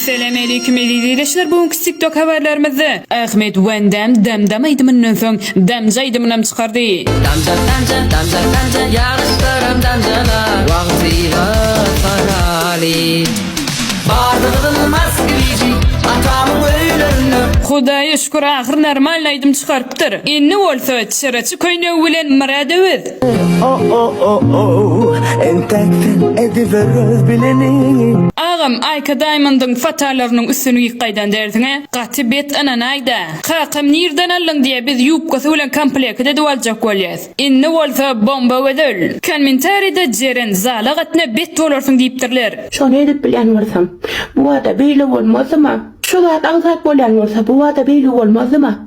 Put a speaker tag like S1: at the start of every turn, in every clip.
S1: Salam aleýkum eziz ildeşler bu günki tiktok habarlarymyzda Ahmet Van Dam Dam Dam aýdymyndan soň Damja aýdymynam çykardy. Damja damja damja damja
S2: ýagyşlaram damjala wagzyga paraly Bardygyň Moskwiji atamyň öýlerinde Hudaýa şükür
S1: ahyr normalny aýdym çykarypdyr. Indi bolsa çyraçy köýnegi bilen Myrada biz.
S3: Agam Aýka
S1: Daýmondyň fotalarynyň üstüni giyip gaýdan dersiňä gaty bet ynanaýda. Kakam nirden aldyň diýýä biz ýubkasy bilen komplekit edip aljak bolýas. Indi bolsa bomba gözel. Kommentarida Jeren zala gatna bet bolarsyň diýipdirler. Şony edip bilýän
S4: bolsam. Bubada beýle bolmazdyma. Şu zat aňsat bolýan bolsa bubada beýle bolmazdyma.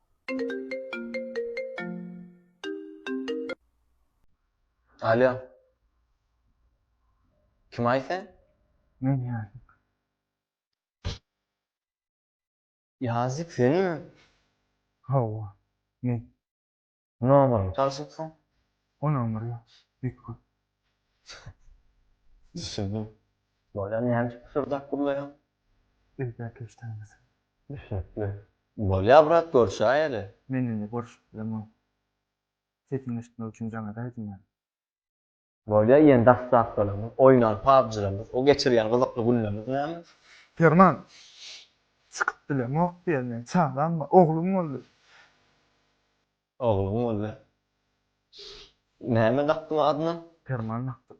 S5: Alýo. Kimaý sen? Men Ýazyk. Ýazyk senmi? Hawa,
S6: men.
S5: Nomer. Tanşyp soň. O nomer
S6: ýok. Ýük köp. Düşündim.
S5: Bolýar näme üçin pyşyrdap gürleýäň. Elbä
S6: keşdeňdesin. Düşnükli.
S5: Bolýar brat görşäýeli. Men indi görşüp
S6: bilemok. Sesiňi eşitmek üçin jaňada aýdym ýaz. Bolýa
S5: diýen dassapkalarymyz, oýnan pabjylarymyz, o geçirýän gyzykly günlerimiz näme? Perman,
S6: Çykyp bilemok diýýär, meniň çagam bar, oglum boldy. Ogluň
S5: boldy. Näme dakdyň adyna? Perman dakdyk.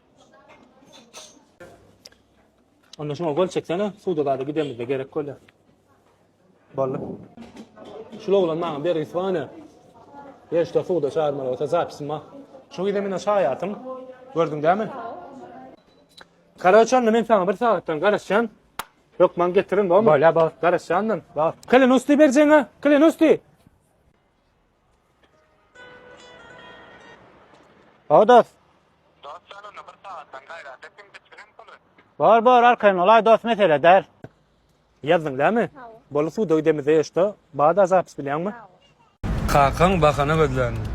S7: Onda şuna gol çeksene, suda zada gidemizde gerek golya. Bolly. Şul oglan maňa bir isvane. Yer şda suda çağırmaly olsa zapisim ma. Şu gide mena şayatym. Gördün dämi? Karaçan men sana bir saatdan garaşan. Yok man getirin bol. Bolya bol. Garaşandan. Bol. Kelen usti berjene. Kelen usti. Odas. Dost ýalana bir sagatdan gaýrat et, kim biçirin puly. Bor, bor, arkaýyn ol, aý dost mesele däl. Ýazdyň dämi? Boly suw döw demize ýeşdo. Bada zapis bilýäňmi? Kakaň bahana gözländi.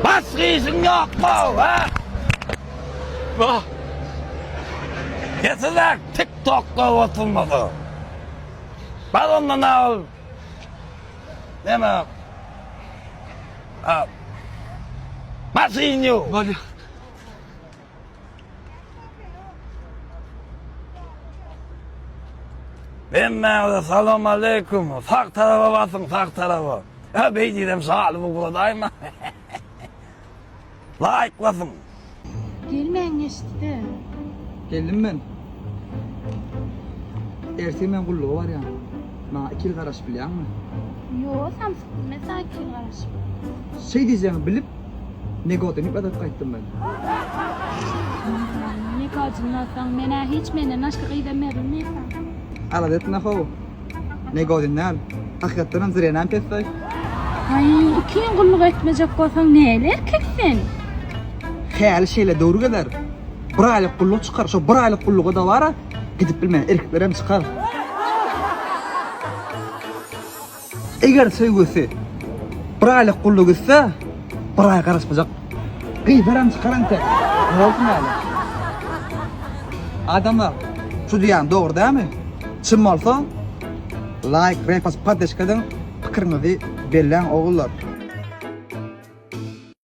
S8: Basgyşyň ýokmy, hä?
S9: Wah! Getirjek TikTok-da oturmasa. Bar onda nä ol? Näme? A. Basgyň ýok. Bolýa. Hemmäňize salam aleyküm. Sag taraba basyň, sag taraba. Ha beýdidem şaly bu guradaýma. Laýk basyň. Gelmäň
S10: geçdi. Geldim
S2: men. Ertesi men gulluga barýan. Maňa iki ýyl garaşyp bilýäňmi? Ýok, samsyk,
S10: biz men saňa iki ýyl garaşyp. Şeý
S2: diýjegiňi bilip, negodyny ypladyp gaýtdym men. Negodyny
S10: ýazsaň, men-ä hiç menden başga gyzam berilmeýär.
S2: Alada etme-how. Negodyn däl, hakykatdanam Zirenäm pessaý. Aý,
S10: iki ýyl gulluk etmejek bolsaň, näli erkek sen?
S2: Häli şeýle döwür geler. Bir aýlyk gulluk çykar, şo bir aýlyk gulluga dabara Gidip bilmän erkeklerem çykar. Eger söýgüsi bir aýlyk gulluk etse, bir aý garaşmajak. Gyzaram çykar ente. Ne bolsun ýaly? Adamlar, şu diýýän dogry dämi? Çyn bolsa, laýk, repost, poddeşka ediň, pikiriňizi belläň ogullar.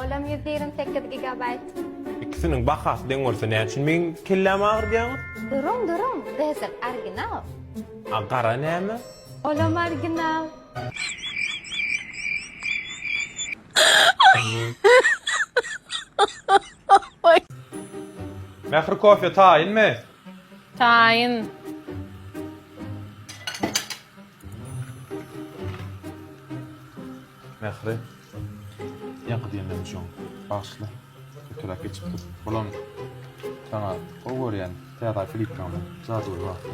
S7: Olam ýüz ýigrimi
S10: sekiz gigabaýt. Ikisiniň
S7: bahasy deň bolsa näme üçin meň kellämi agyrtýaňyz? Duruň duruň
S10: gyzyl orginal. A gara
S7: näme? Olam
S10: orginal.
S7: Mähri kofe taýynmy? Taýyn.
S11: Mähri. Ýaňky diýenlerim üçin bagyşla. Öteräk geçipdir. Bulam saňa gowy görýän täze kliplaňda jadyly wagty.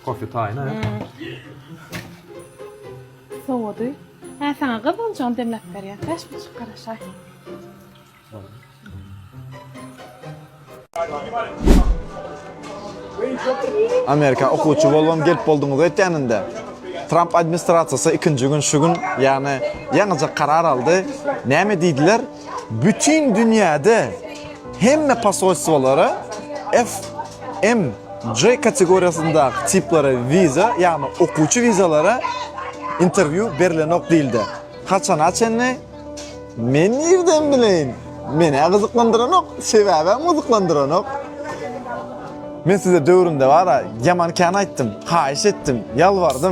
S11: Kofe taýyna.
S10: Sowady. Hä saňa gyz boljagam demläp berýär. Bäş buçuk garaşaý.
S8: Amerika okuwçy bolubam gelip bolduňyz öýtýäninde. Tramp administrasiýasy ikinji gün şu gün, ýagny ýaňyja karar aldy. Näme diýdiler? Bütin dünýäde hemme posolstwolara FMJ kategoriýasyndaky tiplara wiza, ýagny okuwçy wizalara interwýu berilenok diýildi. Haçana çenli? Men nirden bileýin? Menä gyzyklandyranok, sebäbem gyzyklandyranok. Men size döwrümde bara ýaman kän aýtdym, haýyş etdim, ýalbardym.